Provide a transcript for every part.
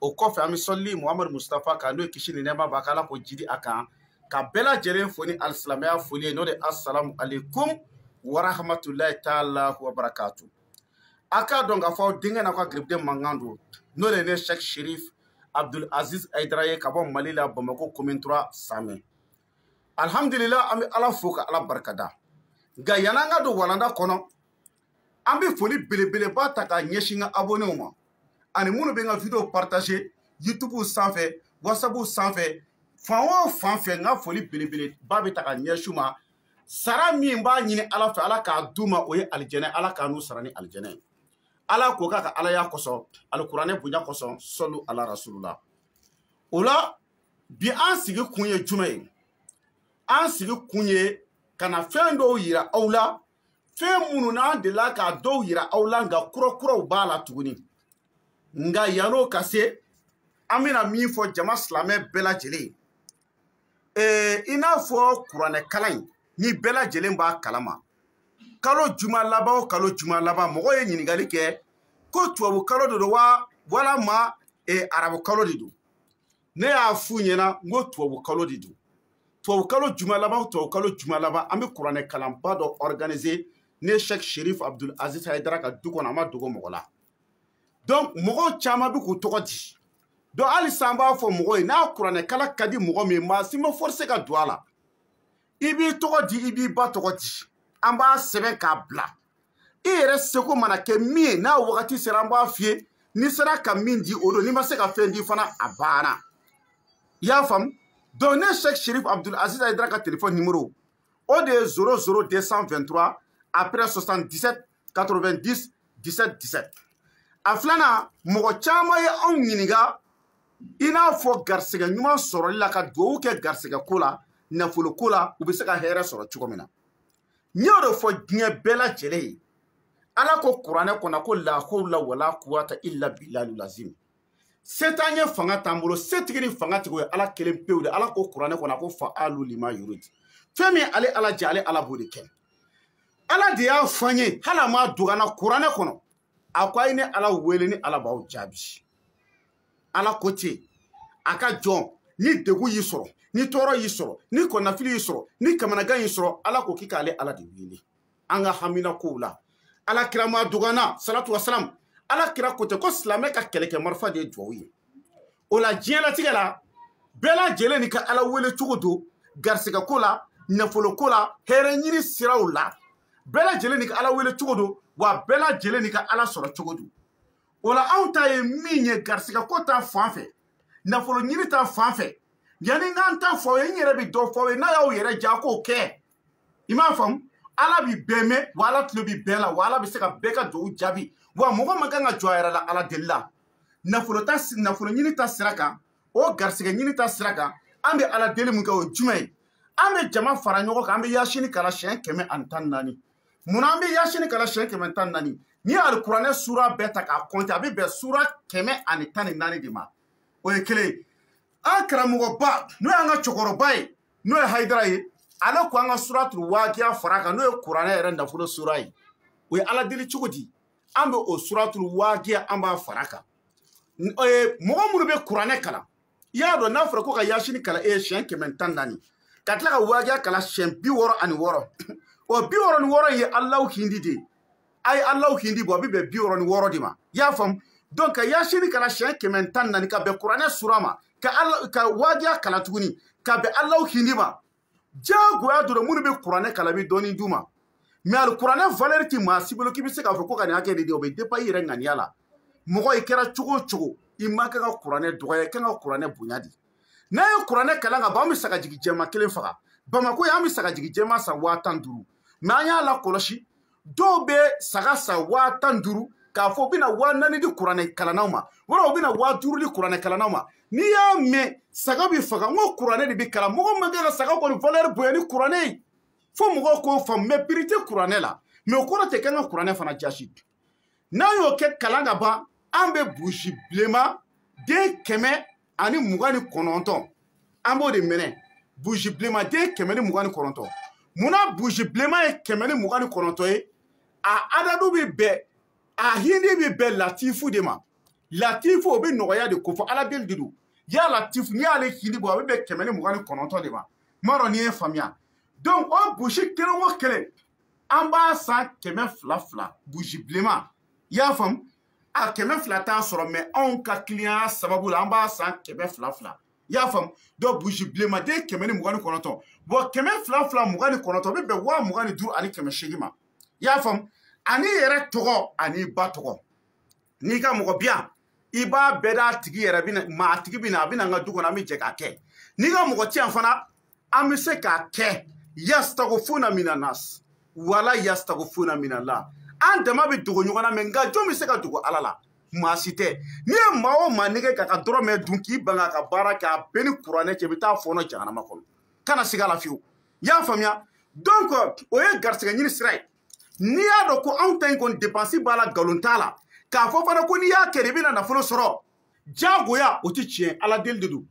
o kɔfɛ an bɛ sɔli muhamadu mustapha kan n'o ye kisi ni nɛɛma b'a kan ala k'o jidi a kan ka bɛɛ lajɛlen fo ni alisilamɛya foli ye n'o de asalamu aleykum warahamatulayi taala wa barakatu a k'a dɔn k'a fɔ aw denkɛ n'aw ka garibuden mankan don n'o de ye ne sɛki sherif abdul aziz hayidara ye ka bɔ mali la bamako commune trois samɛ alhamdulila an bɛ ala fo ka ala barikada nka yann'an ka don walanda kɔnɔ an bɛ foli belebeleba ta k'a ɲɛsin n ka abonnéw ma ani minnu bɛ n ka video partager youtube sanfɛ whatsapp sanfɛ fan o fan fɛ n ka foli belebeleba bɛ ta ka ɲɛsin ma sara min b'a ɲini ala fɛ ala k'a d'u ma o ye alijɛnɛ ala k'an n'u sara ni alijɛnɛ ye ala k'o k'a ka alaya kosɔn alikuranɛ bonya kosɔn sɔlu ala rasulula o la bi an sigi kun ye jumɛn ye an sigi kun ye ka na fɛn dɔw yira aw la fɛn minnu n'an delila k'a dɔw yira aw la nka kurakuraw b'a la tuguni nka yann'o ka se an bɛna min fɔ jama silamɛ bɛɛ lajɛlen ye ee i n'a fɔ kuranɛ kalan in ni bɛɛ lajɛlen b'a kalama kalo juma laban o kalo juma laban mɔgɔ ye ɲininkali kɛ ko tubabu kalo de don wa walama arabu kalo de don ne y'a f'u ɲɛna n ko tubabu kalo de don tubabu kalo juma laban tubabu kalo juma laban an bɛ kuranɛ kalanba dɔ organiser ne sɛk sherif abdul aziz hayidara ka du kɔnɔ a ma dogo mɔgɔ la donc mɔgɔw caman bɛ k'u tɔgɔ di donc halisa an b'a fɔ mɔgɔ ye n'a kuranɛ kalan ka di mɔgɔ min ye maa si ma forcé ka don a la i b'i tɔgɔ di i b'i ba tɔgɔ di an b'a sɛbɛn k'a bila i yɛrɛ seko mana kɛ min ye n'a wagati sera an b'a f'i ye n'i sera ka min di o don n'i ma se ka fɛn di fana a banna i y'a faamu donc ne sɛk sherif abdul aziz hayidara ka telefɔni nimero o de ye 00 223 après 77 90 17 17 a filanan mɔgɔ caman ye anw ɲininka i n'a fɔ garisɛgɛ ɲuman sɔrɔli la ka dugawu kɛ garisɛgɛ ko la nafolo ko la u bɛ se ka hɛrɛ sɔrɔ cogo min na n y'o de fɔ diɲɛ bɛɛ lajɛlen ye ala ko kuranɛ kɔnɔ ko lahawula wala kuwata illa bilalu lazim se t'an ye fanga t'an bolo setigi ni fangatigi o ye ala kelen pewu de ala ko kuranɛ kɔnɔ ko faalu lima yuridu fɛn min ale ala jɛ ale ala b'o de kɛ ala de y'a fɔ an ye hali a m'a dogo an na kuranɛ kɔnɔ a ko a ye ne ala wele ne ala b'aw jaabi ala ko ten a ka jɔn ni degun y'i sɔrɔ ni tɔɔrɔ y'i sɔrɔ ni kɔnɔnafili y'i sɔrɔ ni kamanagan y'i sɔrɔ ala ko k'i k'ale ala de wele an ka hamina kow la ala kira m'a dog'an na salatu wasalam ala kira ko ten ko silamɛ ka kɛlɛkɛ marifa de ye duwaw ye o la diɲɛlatigɛ la bɛɛ lajɛlen n'i ka ala wele cogo don garisigɛ ko la nafolo ko la hɛrɛ ɲini siraw la bɛɛ lajɛlen n'i ka ala wele cogo don wa bɛɛ lajɛlen n'i ka ala sɔrɔ cogo don o la anw ta ye min ye garisigɛ ko ta fan fɛ nafolo ɲini ta fan fɛ yanni n k'an ta fɔ ye n yɛrɛ bɛ dɔ fɔ ye n'a y'aw yɛrɛ ja k'o kɛ i m'a faamu ala bi bɛɛ mɛn wa ala tulo bi bɛɛ la wa ala bɛ se ka bɛɛ ka dugawu jaabi wa mɔgɔ man kan ka jɔn a yɛrɛ la ala deli la nafolo ta nafolo ɲini ta sira kan o garisɛgɛ ɲini ta sira kan an bɛ ala deli mun kɛ o ye jumɛn ye an bɛ jama fara ɲɔgɔn kan an bɛ yasini kalan siɲɛ kɛmɛ ani tan ni naani mun na an bɛ yasini kalan siɲɛ kɛmɛ tan ni naani n'i ye alikuranɛ suura bɛɛ ta k'a kɔnte a bɛ bɛn suura kɛmɛ ani tan ni naani de ma o ye kelen ye an karamɔgɔba n'o y'an ka cɛkɔrɔba ye n'o ye hayidara ye ale ko an ka suratul wakiya fara kan n'o ye kuranɛ yɛrɛ nafolo sura ye o ye ala deli cogo di an bɛ o suratul wakiya an b'a fara kan mɔgɔ minnu bɛ kuranɛ kalan i y'a dɔn n'a fɔra ko ka yasini kalan e ye siɲɛ kɛmɛ tan naani ka tila ka wakiya kalan siɲɛ bi wɔɔrɔ ani wɔɔrɔ o bi wɔɔrɔ ni wɔɔrɔ ye alaw hindi de ye a ye alaw hindi bɔ a bɛ bɛn bi wɔɔrɔ ni wɔɔrɔ de ma i y'a faamu donc ka yasini kalan siɲɛ kɛmɛ tan naani ka bɛn kuranɛ sura ma ka ala ka wakiya kalan tuguni ka bɛn alaw hindi ma diyagoya dɔrɔn minnu bɛ kuranɛ kalan bɛ dɔɔni d'u ma mɛ alikuranɛ valɛri tɛ maa si bolo k'i bɛ se k'a fɔ ko ka nin hakɛ de di o bɛ depan i yɛrɛ ŋaniya la mɔgɔ i kɛra cogo o cogo i man kan ka kuranɛ dɔgɔya i kan ka kuranɛ bonya de n'an ye kuranɛ kalan ka ban an bɛ sagajigi jɛma kelen faga bamako yan an bɛ sagajigi jɛma san waa tan duuru mɛ an y'a lakɔlɔsi dɔw bɛ saga san waa tan duuru k'a fɔ u bɛna waa naani di kuranɛ kalannaw ma walima u bɛna waa duuru di kuranɛ kalannaw ma n'i y'a mɛn saga bɛ faga n ko kuranɛ de bɛ kalan mɔgɔ man kan ka saga kɔni valɛri bonya ni kuranɛ ye fo mɔgɔw k'o faamu mɛ piri tɛ kuranɛ la mɛ o kɔrɔ tɛ k'an ka kuranɛ fana jasi n'an y'o kɛ kalan ka ban an bɛ buzi bilenman den kɛmɛ ani mugan ni kɔnɔntɔn an b'o de minɛ buzi bilenman den kɛmɛ ni mugan ni kɔnɔntɔn munna buzi bilenman ye kɛmɛ ni mugan ni kɔnɔntɔn ye a adadu bɛ bɛn a hindi bɛ bɛn latifu de ma latifu o bɛ nɔgɔya de kofɔ ala deli de don ya latifu n'i y'ale hindi bɔ a bɛ bɛn kɛmɛ ni mugan ni kɔnɔntɔn de ma n m'a dɔn n'i ye faamuya donc o buzi kelen o kelen an b'a san kɛmɛ fila fila buzi bilenman i y'a faamu a kɛmɛ fila t'a sɔrɔ mɛ anw ka kiliyanya sababu la an b'a san kɛmɛ fila fila i y'a faamu donc buzi bilenman den kɛmɛ ni mugan ni kɔnɔntɔn bɔn kɛmɛ fila fila mugan ni kɔnɔntɔn bɛ bɛn waa mugan ni duuru ani kɛmɛ seegin ma i y'a faamu ani i yɛrɛ tɔgɔ ani i ba tɔgɔ n'i ka mɔgɔ bi yan i b'a bɛɛ d'a tigi yɛrɛ bina ma a tigi bi na a bi na n ka du kɔnɔ an bɛ jɛ k'a kɛ n'i ka mɔgɔ ti yan fana an bɛ se k'a kɛ yastagofuna mina nas wala yastagofuna mina la an dama bɛ dogo ɲɔgɔn na mɛ nka jɔn bɛ se ka dogo ala la maa si tɛ n'i ye maa o maa nɛgɛn k'a ka dɔrɔmɛ dun k'i ban ka baara kɛ a b'i ni kuranɛ cɛ i bɛ t'a fɔɔnɔ jahanama kɔnɔ kana siga a la fiyewu i y'a faamuya donc o ye garisigɛ ɲini sira ye n'i y'a dɔn ko anw ta in kɔni depansi b'a la nkalon t'a la k'a fɔ fana ko n'i y'a kɛ i bɛna nafolo sɔrɔ diyagoya o ti tiɲɛ ala deli de don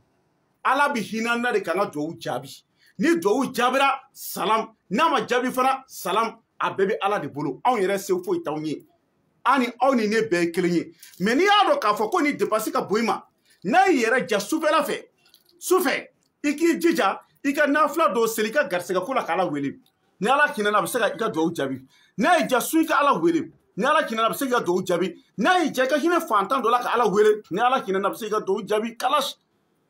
ala bi hin'an na de k'an ka duwawu jaabi ni duwawu jaabira salam n'a ma jaabi fana salam a bɛɛ bɛ ala de bolo anw yɛrɛ se foyi t'anw ye an ni aw ni ne bɛɛ ye kelen ye mɛ n'i y'a dɔn k'a fɔ ko nin depansi ka bon i ma n'a y'i yɛrɛ ja sufɛla fɛ sufɛ i k'i jija i ka nafila dɔw seli i ka garisigɛko la k'ala wele ni ala hinɛna a bɛ se ka i ka dugawu jaabi n'a y'i ja sun i ka ala wele ni ala hinɛna a bɛ se k'i ka dugawu jaabi n'a y'i ja i ka hinɛ fantan dɔ la ka ala wele ni ala hinɛna a bɛ se k'i ka dugawu jaabi kalas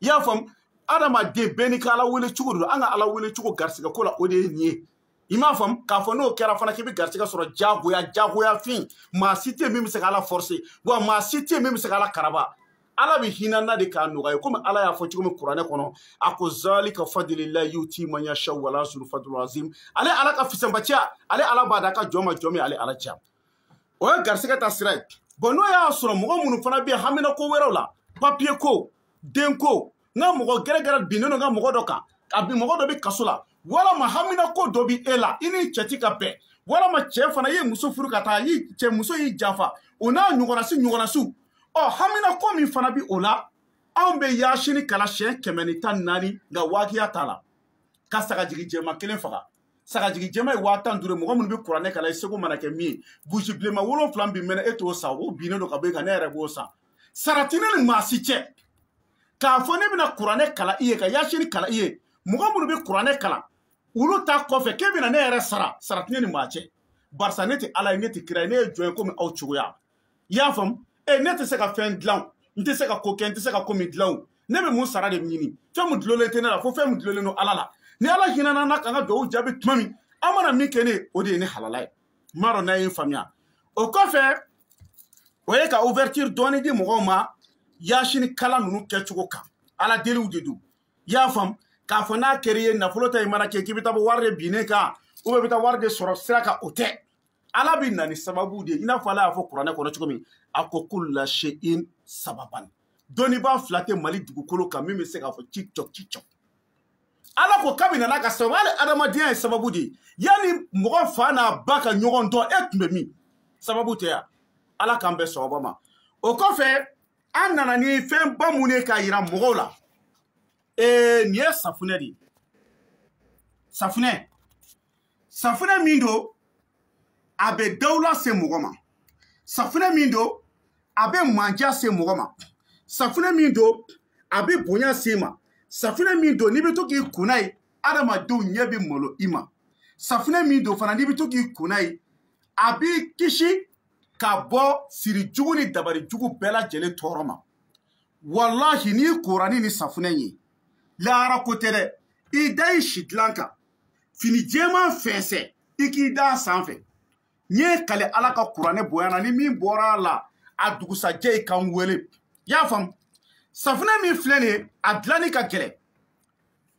i y'a faamu adamaden bɛɛ n'i ka ala wele cogo don an ka ala wele cogo garisigɛ ko la o de ye nin ye i m'a faamu k'a fɔ n'o kɛra fana k'i bɛ garisigɛ sɔrɔ jagoya jagoya fin maa si tɛ yen min bɛ se ka ala forcé wa maa si tɛ yen min bɛ se ka ala karaba ala bɛ hin'an na de k'a nɔgɔya komi ala y'a fɔ cogo min kuranɛ kɔnɔ a ko zalika fadililahi yuti man yasha wala suru fadul azim ale ala ka fisamantiya ale ala b'a d'a ka jɔn ma jɔn min ale ala diya o ye garisigɛ ta sira ye bon n'o y'a sɔrɔ mɔgɔ minnu fana bɛ yen hamina ko wɛrɛw la papiye ko den ko n ka mɔgɔ gɛrɛgɛrɛ binnen don n ka mɔgɔ dɔ kan a bi mɔgɔ dɔ bɛ kaso la walama hamina ko dɔ bɛ e la i ni cɛ ti ka bɛn walama cɛ fana ye muso furu ka taa y'i cɛ muso y'i janfa o n'a ɲɔgɔnasi ɲɔgɔnasiw ɔ hamina ko min fana bɛ o la anw bɛ yaasini kalan siɲɛ kɛmɛ ni tan naani nka waakiya t'a la ka sagajigi jɛma kelen faga sagajigi jɛma ye waa tan duuru ye mɔgɔ minnu bɛ kuranɛ kalan i seko mana kɛ min ye buzi bilenman wolonfila min bɛ mɛnɛ e t'o san o binnen don ka bɔ e kan ne yɛrɛ b'o san sara ti ne ni maa si cɛ k'a fɔ ne bɛna kuranɛ kalan i ye ka yasini kalan i ye mɔgɔ minnu bɛ kuranɛ kalan olu ta kɔfɛ k'e bɛna ne yɛrɛ sara sara tɛ ne ni maa cɛ barisa ne tɛ ala ye ne tɛ kira ye ne ye jɔn ye komi aw cogoya i y'a faamu e ne tɛ se ka fɛn dilan n tɛ se ka ko kɛ n tɛ se ka ko min dilan ne bɛ mun sara de ɲini fɛn min dulolen tɛ ne la fo fɛn min dulolen don ala la ni ala hinɛna n na ka n ka dugawu jaabi tuma min aw mana min kɛ ne ye o de ye ne halala ye n m'a dɔn n'a ye n faamuya o kɔfɛ o ye ka ouverture dɔɔni di mɔgɔw ma yasini kalan ninnu kɛcogo kan ala deliw de don i y'a faamu k'a fɔ n'a kɛra i ye nafolo ta i mana kɛ k'i bɛ taa bɔ wari de binnen kan ou bien i bɛ taa wari de sɔrɔ sira kan o tɛ ala bɛ na ni sababu de ye i n'a fɔ ala y'a fɔ kuranɛ kɔnɔ cogo min a ko kuli sheyin sababan dɔnnibaa fila tɛ mali dugukolo kan min bɛ se k'a fɔ ci cɔ ci cɔ ala ko kabini nana ka sababu hali adamadenya ye sababu de ye yanni mɔgɔ fa n'a ba ka ɲɔgɔn dɔn e tun bɛ min sababu tɛ yan ala k'an bɛn sababu ma o kɔfɛ an nana ni fɛnba min ye k'a yira mɔgɔw la ee nin ye safunɛ de ye safunɛ safinɛ min don a bɛ dawula se mɔgɔ ma safinɛ min don a bɛ mandiya se mɔgɔ ma safinɛ min don a bɛ bonya se ma safinɛ min don n'i bɛ to k'i ko n'a ye adamadenw ɲɛ bɛ malo i ma safinɛ min don fana n'i bɛ to k'i ko n'a ye a b'i kisi ka bɔ siri jugu ni dabari jugu bɛɛ lajɛlen tɔɔrɔ ma walahi n'i kora ni nin safunɛ ye lahara ko tɛ dɛ i da i sidilan kan fini jɛman fɛnsɛ i k'i da a sanfɛ n ye n kali ala ka kuranɛ bonya na ni min bɔra a la a dugusajɛ i ka n wele i y'a faamu safunɛ min filɛ nin ye a dilanni ka gɛlɛn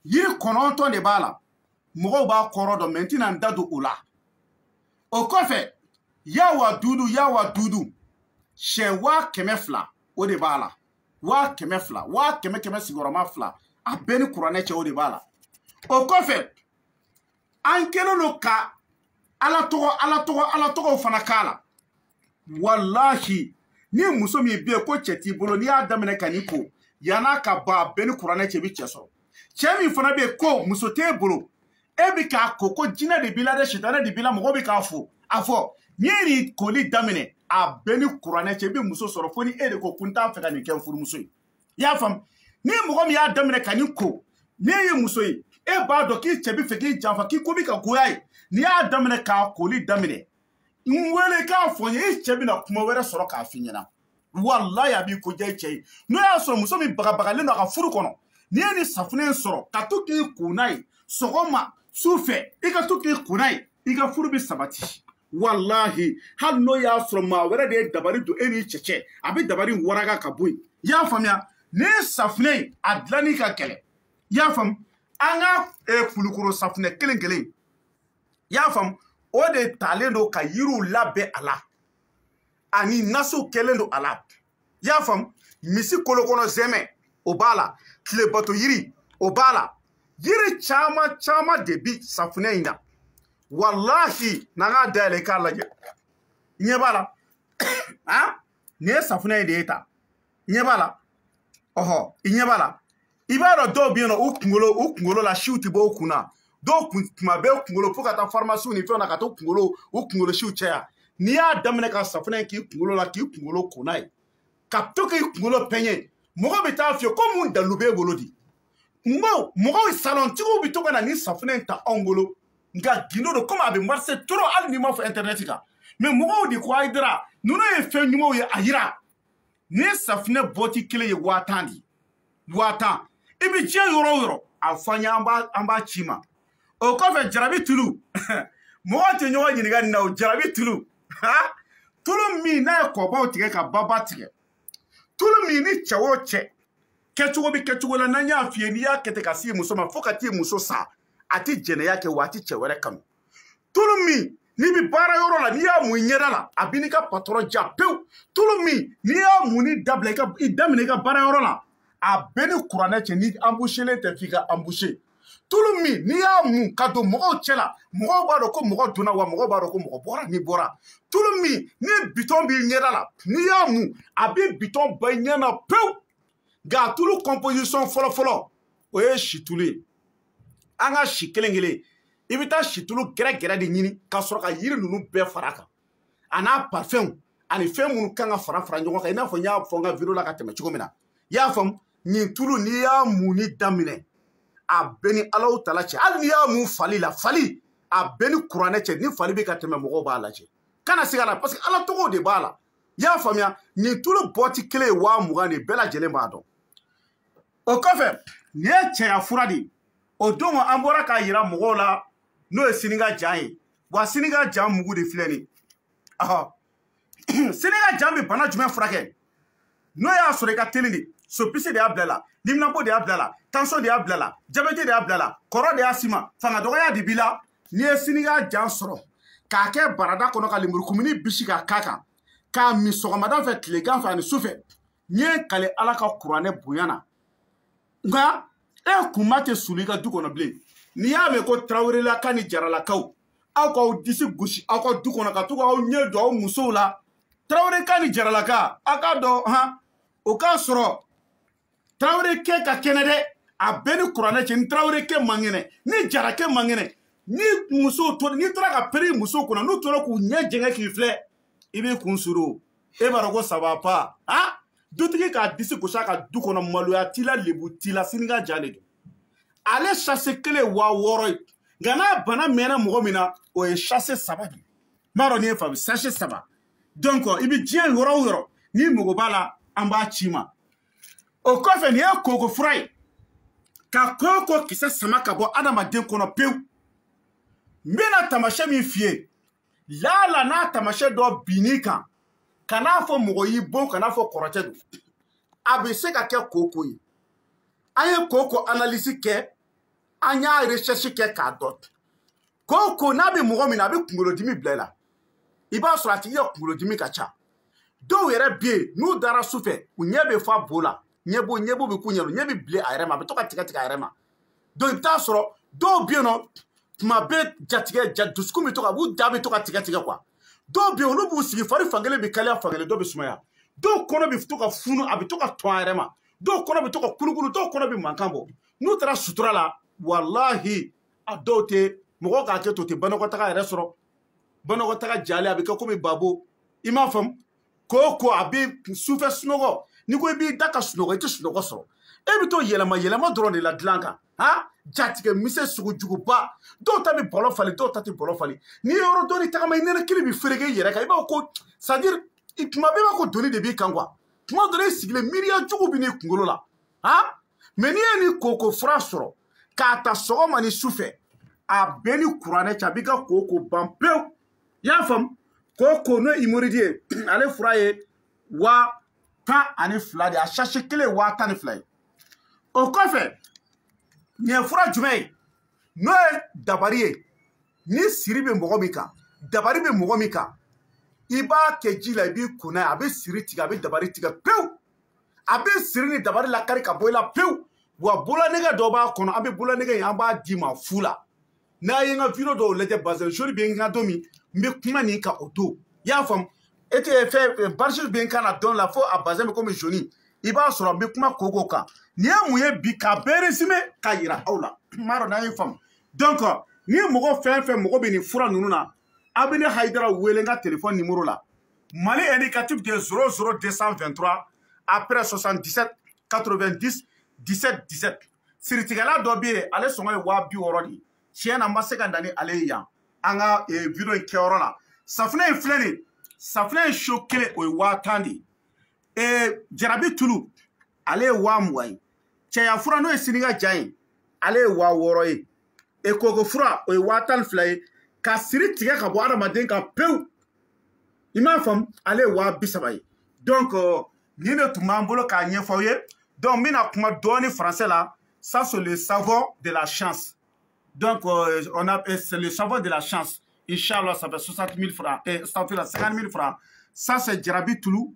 yiri kɔnɔntɔn de b'a la mɔgɔw b'a kɔrɔ dɔn mɛ n tɛna n da don o la o kɔfɛ ya waduudu ya waduudu siyɛn waa kɛmɛ fila o de b'a la waa kɛmɛ fila waa kɛmɛ kɛmɛ sigiyɔrɔma fila a bɛ n ni kuranɛ cɛ o de b'a la o kɔfɛ an kɛlen don ka ala tɔgɔ ala tɔgɔ ala tɔgɔw fana k'a la walahi ni muso min bɛ yen ko cɛ t'i bolo n'i y'a daminɛ ka nin ko yann'a ka ban a bɛ n ni kuranɛ cɛ i bɛ cɛ sɔrɔ cɛ min fana bɛ yen ko muso t'e bolo e bɛ k'a ko ko jinɛ de b'i la dɛ sitanɛ de b'i la mɔgɔ bɛ k'a fo a fɔ n'i ye nin koli daminɛ a bɛ n ni kuranɛ cɛ i bɛ muso sɔrɔ fo ni e de ko ko n t'a fɛ ka nin kɛ n furumuso ye i y'a faamu ni mɔgɔ min y'a daminɛ ka nin ko n'e ye muso ye e b'a dɔn k'i cɛ bɛ fɛ k'i janfa k'i ko bɛ ka goya a ye n'i y'a daminɛ k'a koli daminɛ n wele k'a fɔ n ye e cɛ bɛna kuma wɛrɛ sɔrɔ k'a f'i ɲɛna walayi a b'i ko diya i cɛ ye n'o y'a sɔrɔ muso min bagabagalen don a ka furu kɔnɔ n'i ye nin safunɛ in sɔrɔ ka to k'i ko n'a ye sɔgɔma su fɛ i ka to k'i ko n'a ye i ka furu bɛ sabati walahi hali n'o y'a sɔrɔ maa wɛrɛ de ye dabali don e n'i cɛ cɛ a bɛ dabali waraka ka bɔ yen i y'a faamuya nin safunɛ in a dilanni ka gɛlɛn i y'a faamu an ka kulukoro safunɛ kelen kelen i y'a faamu o de talen don ka yiriw labɛn a la ani nasiw kɛlen don a la i y'a faamu misi kolo kɔnɔ zɛmɛ o b'a la tilebato yiri o b'a la yiri caman caman de bi safunɛ in na walahi n'an k'a dayɛlɛ i k'a lajɛ i ɲɛ b'a la nin ye safunɛ in de ye ta i ɲɛ b'a la ɔhɔ i ɲɛ b'a la i b'a dɔn dɔw bɛ yen nɔ u kunkolo u kunkolo la siw tɛ bɔ u kun na dɔw kun tuma bɛɛ kunkolo fo ka taa farimasiw ni fɛnw na ka to kunkolo u kunkolo siw caya n'i y'a daminɛ ka safunɛ k'i kunkolo la k'i kunkolo ko n'a ye ka to k'i kunkolo pɛɲɛ mɔgɔ bɛ t'a f'i ye ko mun dalilu b'e bolo di n ma mɔgɔw salɔntigiw bɛ to ka na nin safunɛ in ta anw bolo nka gindo don komi a bɛ marise trop hali n'i m'a fɔ intɛrɛnɛti kan mɛ mɔgɔw de ko ayidara ninnu ye fɛn ɲumanw ye a yira nin safinɛ bɔti kelen ye waa tan de ye waa tan i bɛ diɲɛ yɔrɔ o yɔrɔ a fɔ an ye an b'a an b'a c'i ma o kɔfɛ jarabi tulu mɔgɔ tɛ ɲɔgɔn ɲininka nin na o jarabi tulu tulu min n'a ye kɔbaw tigɛ ka baba tigɛ tulu min ni cɛ o cɛ kɛcogo bɛ kɛcogo la n'an y'a f'i ye n'i y'a kɛ ten ka s'i muso ma fo ka t'i muso sa a tɛ jɛnɛya kɛ wa a tɛ cɛ wɛrɛ kanu tulu min n'i bɛ baara yɔrɔ la n'i y'a mun i ɲɛda la a b'i n'i ka patɔrɔn diya pewu tulu min n'i y'a munni dabila i ka i daminɛ i ka baara yɔrɔ la a bɛ n ni kuranɛ cɛ n'i anbuselen tɛ f'i ka anbuse tulu min n'i y'a mun ka don mɔgɔw cɛ la mɔgɔw b'a dɔn ko mɔgɔ donna wa mɔgɔw b'a dɔn ko mɔgɔ bɔra n'i bɔra tulu min ni bitɔn b'i ɲɛda la n'i y'a mun a bɛ bitɔn bɔ i ɲɛ na pewu nka a tulu composition fɔlɔfɔlɔ o ye situlu ye an ka si kelen kelen i bɛ taa situlu gɛrɛ gɛrɛ de ɲini ka sɔrɔ ka yiri ninnu bɛɛ fara kan a n'a parfɛnw ani fɛn minnu kan ka fara fara ɲɔgɔn kan i n'a fɔ n y'a fɔ n ka video la ka tɛmɛ cogo min na i y'a faamu nin tulu n'i y'a munni daminɛ a bɛ n ni alahu taala cɛ hali n'i y'a mun fali la fali a bɛ n ni kuranɛ cɛ ni fali bɛ ka tɛmɛ mɔgɔw b'a lajɛ kana siga la parce que ala tɔgɔw de b'a la i y'a faamuya nin tulu bɔti kelen ye waa mugan de bɛɛ lajɛlen b'a dɔn o kɔfɛ nin ye cɛya fura de ye o don an bɔra k'a yira mɔgɔw la n'o ye sini ka jan ye wa sini ka jan mugu de filɛ nin sini ka jan bɛ bana jumɛn furakɛ n'o y'a sɔrɔ i ka teli de sopisi de y'a bila la liminapo de y'a bila la tansɔn de y'a bila la jabɛti de y'a bila la kɔrɔ de y'a s'i ma fanga dɔgɔya de b'i la n'i ye sini ka jan sɔrɔ k'a kɛ barada kɔnɔ ka lemurukumuni bisi ka k'a kan k'a min sɔgɔmada fɛ tilegan fɛ ani su fɛ n ye n kale ala ka kuranɛ bonya na nka e kunma tɛ sulu i ka du kɔnɔ bilen n'i y'a mɛn ko tarawelelaka ni jaralakaw aw k'aw disi gosi aw ka du kɔnɔ ka to k'aw ɲɛ jɔ aw musow la taraweleka ni jaralaka a k'a dɔn han o k'a sɔrɔ tarawele kɛ ka kɛnɛ dɛ a bɛ n ni kuranɛ cɛ ni tarawele kɛ man kɛnɛ ni jara kɛ man kɛnɛ ni muso to n'i taara ka pɛrɛn muso kunna n'u tora k'u ɲɛ jɛngɛ k'i filɛ i b'i kun suru e b'a dɔn ko ça va pas a dutigi k'a disi gosi a ka du kɔnɔ maloya t'i la lebu t'i la sini ka jan de don ale sase kelen ye waa wɔɔrɔ ye nka n'a bana mɛnna mɔgɔ min na o ye sase saba de ye n m'a dɔn n'i y'a faamu sachet saba donc i bɛ diɲɛ yɔrɔ o yɔrɔ n'i mago b'a la an b'a c'i ma o kɔfɛ nin ye koko fura ye ka koko kisɛ sama ka bɔ adamaden kɔnɔ pewu n bɛna taamasiyɛn min f'i ye laala n'a taamasiyɛn dɔ binn'i kan kan'a fɔ mɔgɔ y'i bon kan'a fɔ kɔrɔtɛ don a bɛ se ka kɛ koko ye an ye koko analyse kɛ an y'a recherche kɛ k'a dɔn koko n'a bɛ mɔgɔ min na a bɛ kunkolodimi bila i la i b'a sɔrɔ a tigi ka kunkolodimi ka ca dɔw yɛrɛ bɛ yen n'u dara su fɛ u ɲɛ bɛ fa bo la ɲɛbo ɲɛbo bɛ k'u ɲɛ ɲɛ bɛ bilen a yɛrɛ ma a bɛ to ka tigɛ tigɛ a yɛrɛ ma donc i bɛ t'a sɔrɔ dɔw bɛ yen nɔ tuma bɛɛ jatigɛ ja dusukun bɛ to ka u ja bɛ to ka tigɛ tigɛ quoi dɔw bɛ yen olu b'u sigi fari fankelen bɛ kalaya fankelen dɔ bɛ sumaya dɔw kɔnɔ bɛ to ka funu a bɛ to ka tɔn a yɛrɛ ma dɔw kɔnɔ bɛ to ka kulukulu dɔw kɔnɔ bɛ mankan bɔ n'u taara sutura la walahi a dɔw tɛ mɔgɔ k'a kɛ to tɛ banakɔtaga yɛrɛ sɔrɔ banakɔtaga jalen a bɛ kɛ komi babo i m'a faamu koko a bɛ sufɛ sunɔgɔ n'i ko i b'i da ka sunɔgɔ i tɛ sunɔgɔ sɔrɔ i bɛ to yɛlɛma yɛlɛma dɔrɔn de la dilan kan ha jatigɛ misɛ sugu juguba dɔw ta bɛ bɔlɔ falen dɔw ta tɛ bɔlɔ falen n'i ye yɔrɔ dɔɔni tagama i nɛnɛkili bɛ fereke i yɛrɛ kan i b'a fɔ ko c'est à dire tuma bɛɛ b'a ko doni de b'i kan quoi tuma dɔ la i sigilen miiriya jugu bɛ n'i kunkolo la ha mais n'i ye nin koko fura sɔrɔ k'a ta sɔgɔma ni su fɛ a bɛ n ni kuranɛ cɛ a b'i ka koko ban pewu i y'a faamu koko n'o ye hémorroïde ye ale fura ye waa tan ani fila de ye a sachet kelen ye waa tan ni fila ye o kɔfɛ nin ye fura jumɛn ye n'o ye dabari ye ni siri bɛ mɔgɔ min kan dabari bɛ mɔgɔ min kan i b'a kɛ ji la i b'i ko n'a ye a bɛ siri tigɛ a bɛ dabari tigɛ pewu a bɛ siri ni dabari lakari ka bɔ i la pewu wa bololanɛgɛ dɔ b'a kɔnɔ an bɛ bololanɛgɛ in an b'a d'i ma fu la n'a ye n ka video dɔw lajɛ bazɛn jaune bɛ n kan don min n bɛ kuma nin kan o don i y'a faamu e tɛ fɛn barisi bɛ n kan na dɔn la fo a bazɛn bɛ komi jaune i b'a sɔrɔ n bɛ kuma koko kan nin ye mun ye bi k'a bɛɛ résumé k'a yira aw la n m'a dɔn n'a y'a faamu donc ni mɔgɔ fɛn fɛn mago bɛ nin fura ninnu na aw bɛ ne hayidara wele n ka telefɔni nimɔrɔ la Mali indicatif de 00223 après 77 90 17 17 siritigɛla dɔ bɛ yen ale sɔngɔ ye waa bi wɔɔrɔ de ye tiɲɛ na n ma se ka na ni ale ye yan an ka eh, video in kɛyɔrɔ la safinɛ in filɛ nin safinɛ in so kelen o ye waa tan de ye eh, jarabi tulu ale ye waa mugan ye cɛya fura n'o ye sini ka jan ye ale ye waa wɔɔrɔ ye e koko fura o ye waa tan ni fila ye ka siri tigɛ ka bɔ adamaden kan pewu i m'a faamu ale ye waa bi saba ye donc euh, nin de tun b'an bolo k'a ɲɛfɔ aw ye donc n bɛna kuma dɔɔni français la ça c'est le savon de la chance donc euh, on a euh, c'est le savon de la chance inchallah ça fait 60 000 francs et ça fait 50 000 francs ça c'est jarabi tulu